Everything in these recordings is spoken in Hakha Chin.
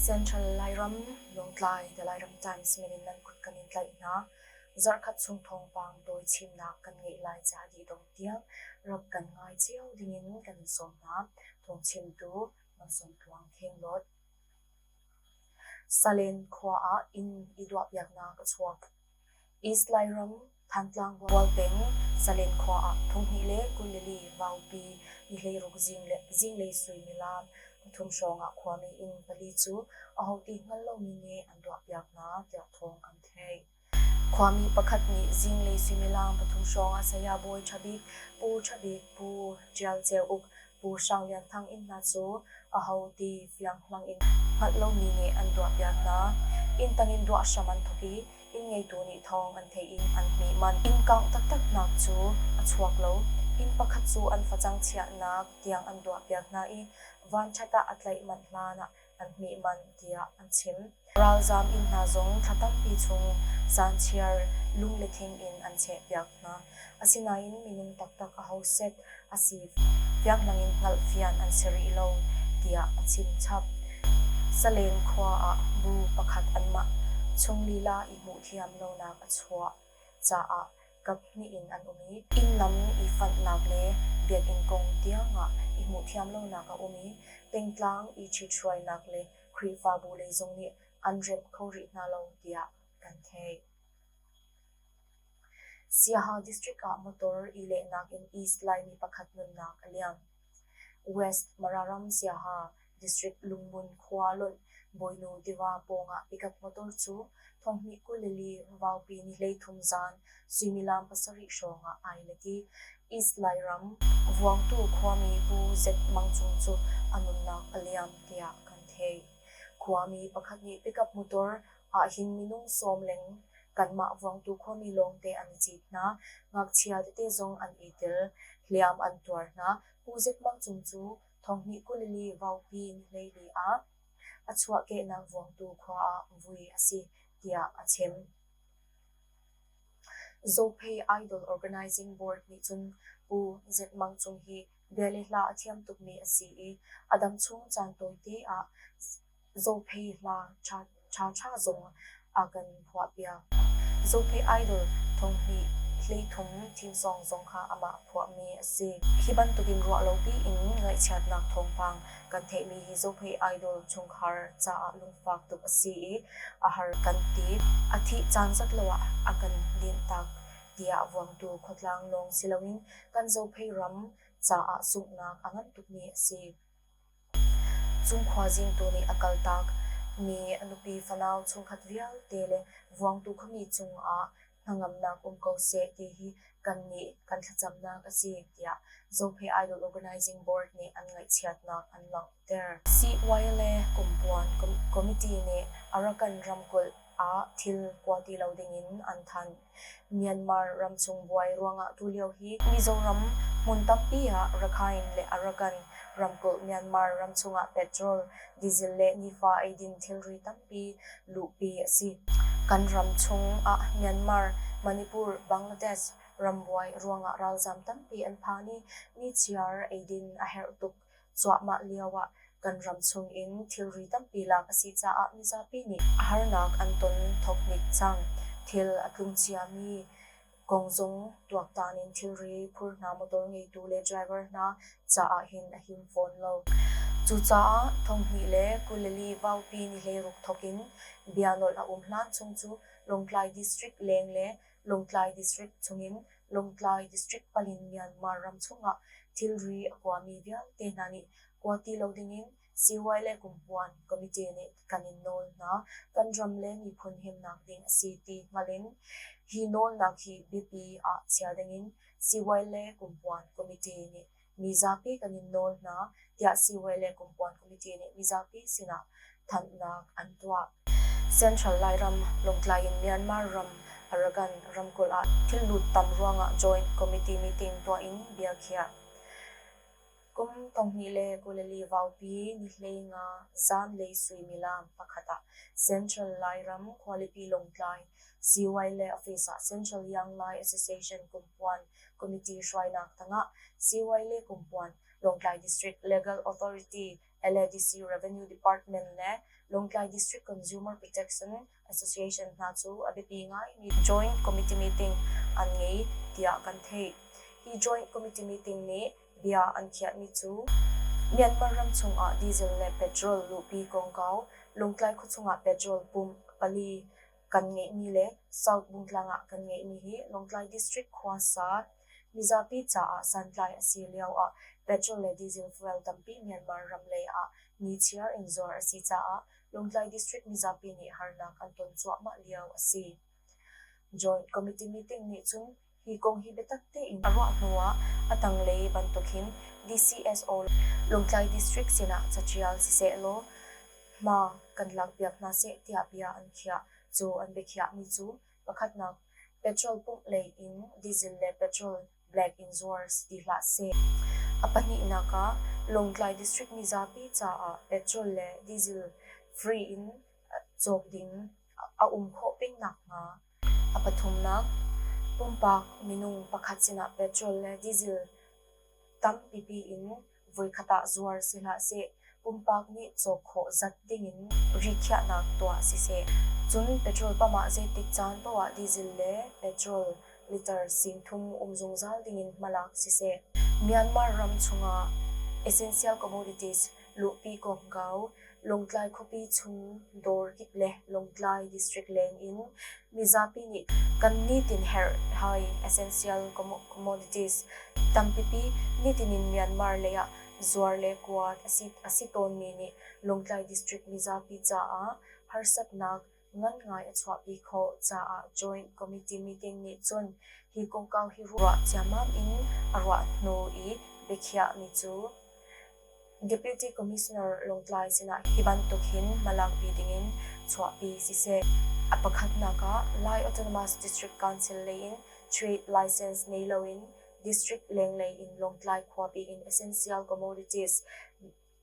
Central Lairam, Lawngtlai the Lairam Times min in nan kut kan in tlaih hna. Zarhkhat chung thawngpang dawi chimnak kan ngeih lai caah dihdong tiang rak kan ngai cio ding in kan sawm hna. Thawngchimtu Mansung Tluang Kheng Dawt. Salen khua ah inn i duahpiaknak a chuak. East Lairam, Thantlang Bual peng, Salen khua ah thonghnih le kunlili vaupi i hleiruk zinglei suimilam pathum hrawngah khuami inn pali cu aho ti hngal lomi nih an tuahpiak hna tiah thawng an theih. Khuami pakhat nih zinglei suimilam pathum hrawngah saya bawi ṭha bik Pu Ṭha Bik Pu Ṭial Ceu Uk Pu Hrang Lian Thang inn hna cu aho ti fianghlang in hngalh lomi nih an ruahpiak hna. Inn tangin ruah hram an thawk i inn ngeitu nih thawng an theih in an hmih manh. Inn kangh taktaknak cu a chuak lo. Inn pakhat cu an facang chiahnak tiang an ruahpiak hna i vanṭhat ah a tlaih manh hlan ah an hmih manh tiah an chim. Ralzaam inn hna zong thla tampi chung zaanchiar lunglehtling in an chehpiak hna. Asinain minung taktak aho set a si fianghlangin hngalh fian an si rih lo, tiah a chimchap. Salem khua ah bu pakhat anmah chung lila i hmuh thiam lonak a chuah caah kaphnih in an um i innlam i fanhnak le biakinn kong tiangah i hmuh thiam lonak a um i pengtlang i ṭhithruainak le Khrihfabu lei zong nih an remh kho rih hna lo tiah kan theih. Siaha district ah motor i lehnak in East Laimi pakhat nunnak a liam. West Mararam siaha district Lungun khua lawlh Bawinu tiva pawngah pickup motor cu thonghnih kul le li vaupi ni hleithum zaan suimilam pasarih hrawngah ai let i East Lairam vuangtu khuami Pu Zet Mang Cung cu a nunnak a liam tiah kan theih. Khuami pakhat nih pickup motor ahhin minung sawm leng kanmah vuangtu khuami lawngte an i cit hna. Ngakchia tete zong an i tel. Hliam an tuar hna. Pu Zek Mang Cung cu Thonghnih kulili vaupi nihlei ah a chuahkehnak vuangtu khua ah vui a si tiah a chim. Zophei Idol Organizing Board nih cun Pu Zek Mang Cung hi bia le hla a thiam tukmi a si i a dam chung caan tawi te ah Zophei hla ṭhaṭha zong a kan phuahpiak. Zophei Idol thonghnih hleithum thimsawng zong kha amah phuahmi a si. Hi bantukin ruah lopi in ngaihchiatnak thawngpang kan theihmi hi Zophei Idol chungkhar caah lungfak tuk a si i a har kan ti. A thih caan zat lo ah a kan linhtak tiah vuangtu khuatlang lawng si loin kan Zophei ram caah sunghnak a ngan tukmi a si. Cung khuazingtu nih a kaltak mi a nupi fanau chungkhat vialte le vuangtu khuami cungah hnangamnak um ko seh ti hi kannih kan thlacamnak a si tiah Zophei Idol Organizing Board nih an ngaihchiatnak an langhter. CY le Kumpuan Committee nih Arakan ramkulh ah thil kua ti lo dingin an thanh. Myanmar ramchung buai ruangah tulio hi Mizoram hmun tampi ah Rakhine le Arakan ramkulh Myanmar ramchung ah petrol, diesel le nifa eidin thilri tampi luhpi a si. Kan ram chung ah Myanmar, Manipur, Bangladesh rambuai ruangah ralzam tampi an phang i nichiar eidin a herh tuk. cuahmah lioah kan ram chungin thilri tampi lak a si caah mizapi nih harnak an ton thoknik cang. Thil a tlung ciami kong zong tuaktan in thilri phur hna, motor ngeitu le driver hna caah hin a him fawn lo. Cucaah thonghnih le kuleli vaupi nihleiruk thokin bia nolh a um hlan chung cu Lawngtlai District leng le Lawngtlai District chungin Lawngtlai District palin Myanmar ram chungah thilri a kuami vialte hna nih kua ti lo dingin Sihuai le Kumpuan Committee nih kan in nawl hna. Kan ram le miphun himnak ding a si ti hngalh in hi nawlnak hi biapi ah chiah dingin Sihuai le Kumpuan Committee nih mizapi kan in nawl hna tiah siihawi le kumpuan committee nih mizapi sinah thanhnak an tuah. Central Lairam, Lawngtlai in Myanmar ram, Arakan ramkulh ah thillut tam ruangah joint committee meeting tuah in biakhiah. Kum tonghnih le kuleli vaupi nihlei nga zanlei suimilam pakhat ah Central Lairam Khualipi Lawngtlai CY le Office ah Central Young Lai Association kumpuan Committee hruainak tangah Siwai le Kumpuan, Lawngtlai District Legal Authority, LADC Revenue Department le Lawngtlai District Consumer Protection Association hna cu a biapi ngaimi Joint Committee Meeting an ngei tiah kan theih. Hi Joint Committee Meeting nih bia an khiahmi cu Myanmar ram chungah diesel le petrol luhpi kongkau, Lawngtlai khuachung ah petrol pumh pali kan ngeihmi le South Bungtlang ah kan ngeihmi hi Lawngtlai District khuasa mizapi caah santlai a si lio ah petrol le diesel fuel tampi Myanmar ram lei ah nichiar in zuar a si caah Lawngtlai District mizapi nih harnak an ton cuahmah lio a si. Joint Committee meeting nih cun Hi kong hi biatak tein a ruah hnu ah a tanglei bantukin DCSO Lawngtlai District sinah caṭial sisehlaw hma kan lakpiak hna seh tiah bia an khiah. Cu an biakhiahmi cu pakhatnak petrol pumh lei in diesel le petrol black in zuars ti hlah seh. A pahnihnak ah Lawngtlai District mizapi caah petrol le diesel free in cawk ding a um khawh peng nakhnga A pathumnak, pumpak minung pakhat sinah petrol le diesel tampipi in voikhat ah zuar si hlah seh. Pumpak nih cawk khawh zat dingin rikhiahnak tuah siseh. Cun petrol pump ah zeitik caan paoh ah diesel le petrol liter singthum um zungzal dingin hmalak siseh. Myanmar ram chungah essential commodities luhpi kawmkau, Lawngtlai khuapi chung dawr kip le Lawngtlai district leng in mizapi nih kan nitin herh hai essential commodities tampipi nitin in Myanmar lei ah zuar le kuat a si tawnmi nih Lawngtlai district mizapi caah harsatnak ngan ngai a chuahpi khawh caah Joint Committee meeting nih cun hi kongkau hi ruah ciammam in a ruah hnu i biakhiahmi cu Deputy Commissioner Lawngtlai sinah hi bantuk hin malangpi dingin chuahpi siseh a pakhatnak ah Lai Autonomous District Council lei in trade license nei loin district lenglei in Lawngtlai khuapi in essential commodities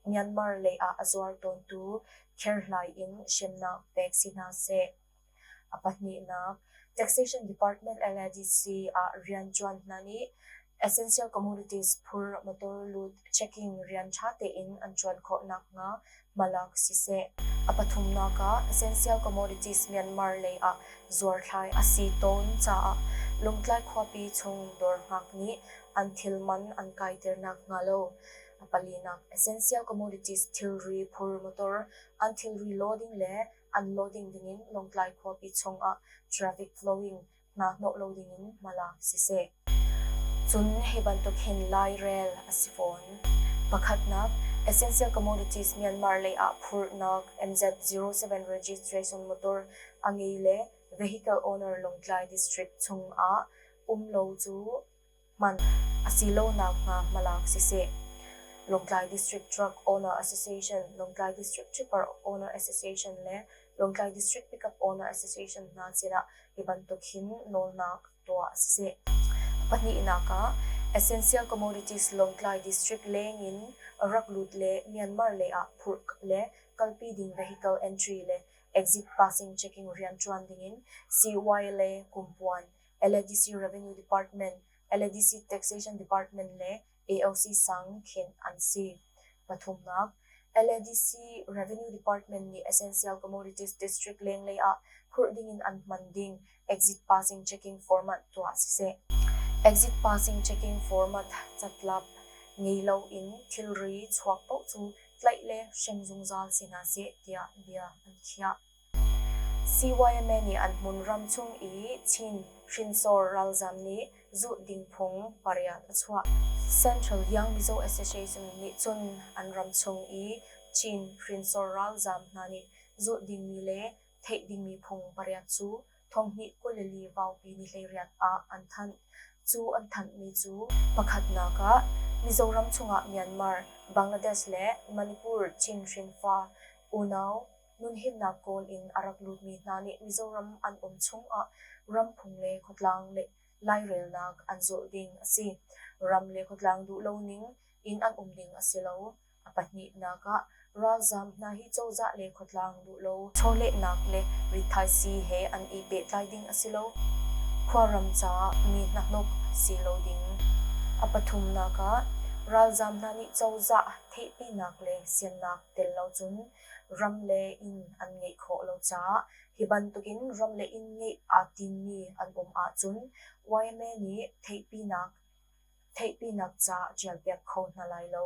Myanmar lei ah a zuar tawntu kherhlai in hremnak pek si hna seh. A pahnihnak, Taxation Department LADC ah rianṭuan hna nih Essential Commodities phur motor lut checking rian ṭha tein an ṭuan khawh nakhnga hmalak siseh. A pathumnak ah, Essential Commodities Myanmar lei ah zuarthlai a si tawn caah Lungtlai khuapi chung dawr ngak nih an thil man an kaiter nakhnga lo palinak Essential Commodities thilri phur motor an thilri law ding le an law ding dingin Lawngtlai khuapi chungah traffic flowing hna hnawh lo dingin hmalak siseh. Cun hi bantuk hin lairel a si fawn. Pakhatnak, Essential Commodities Myanmar lei ah phurhnak MZ07 registration motor a ngei le vehicle owner Lawngtlai district chungah um lo cu hman a si lonak hnga hmalak siseh. Lawngtlai District Truck Owner Association, Lawngtlai District Tripper Owner Association le Lawngtlai District Pickup Owner Association hna sinah hi bantuk hin nawlnak tuah siseh. Pahnihnak ah Essential Commodities Lawngtlai District leng in rak lut le Myanmar lei ah phurh le kalpi ding vehicle entry le exit passing checking riantuan ding in CY le kumpuan LADC Revenue Department, LADC Taxation Department le AOC sang khenh an si. Pathumnak, LADC Revenue Department nih Essential Commodities District lenglei ah phurh dingin an hman ding exit passing checking format tuah siseh, exit passing checking format catlap ngei loin thilri chuak paoh cu tlaih le hrem zungzal si hna seh tiah bia an khiah. CYMA nih an hmun ram chung i Chin hrinsor ralzam nih zuh ding phung pariat a chuah. Central Tiangmizaw Association nih cun an ram chung i Chin hrinsor ralzam hna nih zuh dingmi le theih dingmi phung pariat cu thonghnih kulili vaupi ni hleiriat ah an thanh. Cu an thanhmi cu pakhatnak ah Mizoram chungah Myanmar, Bangladesh le Manipur Chin hrinfa unau nunhimnak kawl in a rak lutmi hna nih Mizoram an um chungah ram phung le khuatlang le lairelnak an zulh ding a si. Ram le khuatlang duh lo ning in an um ding a si lo. A pahnihnak ah, ralzam hna hi cozah le khuatlang duh lo chawlehnak le rithaisi he an i pehtlai ding a si lo. Khuaram caah mi hnahnok si lo ding. A pathumnak ah, ralzam hna nih cozah theihpinak le siannak tel lo cun ram le inn an ngeih khawh lo caah hi bantukin ram le inn ngeih aa timmi an um ahcun yma nih theihpinak ca ṭialpiak kho hna lai lo.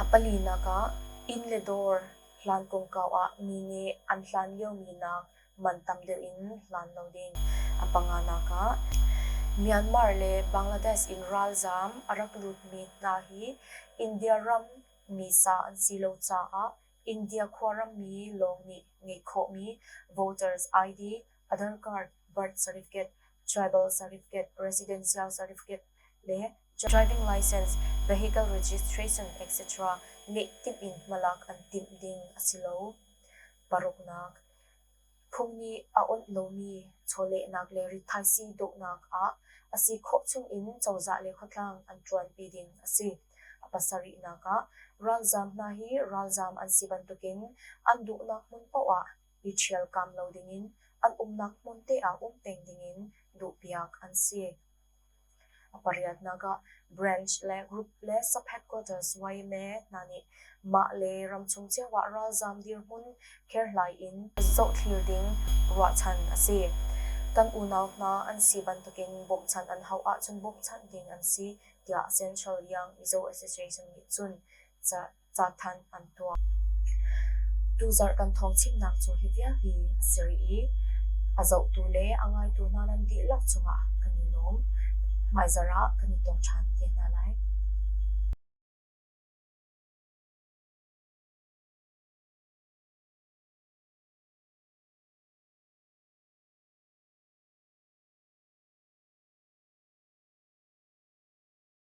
A palinak ah inn le dawr hlan kongkau ah mi nih an hlan liomi nak man tam deuh in hlan lo ding. A panganak ah Myanmar le Bangladesh in ralzaam a rak lutmi hna hi India ram misa an si lo caah India khuarammi lawng nih ngeih khawhmi voters ID, adon card, birth certificate, tribal certificate, residential certificate le driving license, vehicle registration etc. ngeih timh in hmalak an timh ding a si lo. Paruknak Phung nih a awnh lomi chawlehnak le rithaisii dawhnak ah a si khawh chungin cozah le khuatlang an ṭuanpi ding a si. A pasarihnak ah, ralzaam hna hi ralzaam an si bantukin an duhnak hmun paohah i ṭhialkam lo dingin an umnak hmun te ah um peng dingin duhpiak an si. A pariatnak ah branch le group le sub-headquarters yma hna nih mah le ramchung cio ah ralzaam dirhmun kherhlai in zohthlir ding ruahchan a si. Kan unau hna an si bantukin bawmhchanh an hauh ahcun bawmhchanh ding an si tiah Central Young Mizo Association nih cun ca cathanh an tuah. Tuzarh kan thawngchimnak cu hi vialte a si rih i a zohtu le a ngaitu hna nan dihlak cungah kan i lawm. Hmaizarh ah kan i tong ṭhan te hna lai.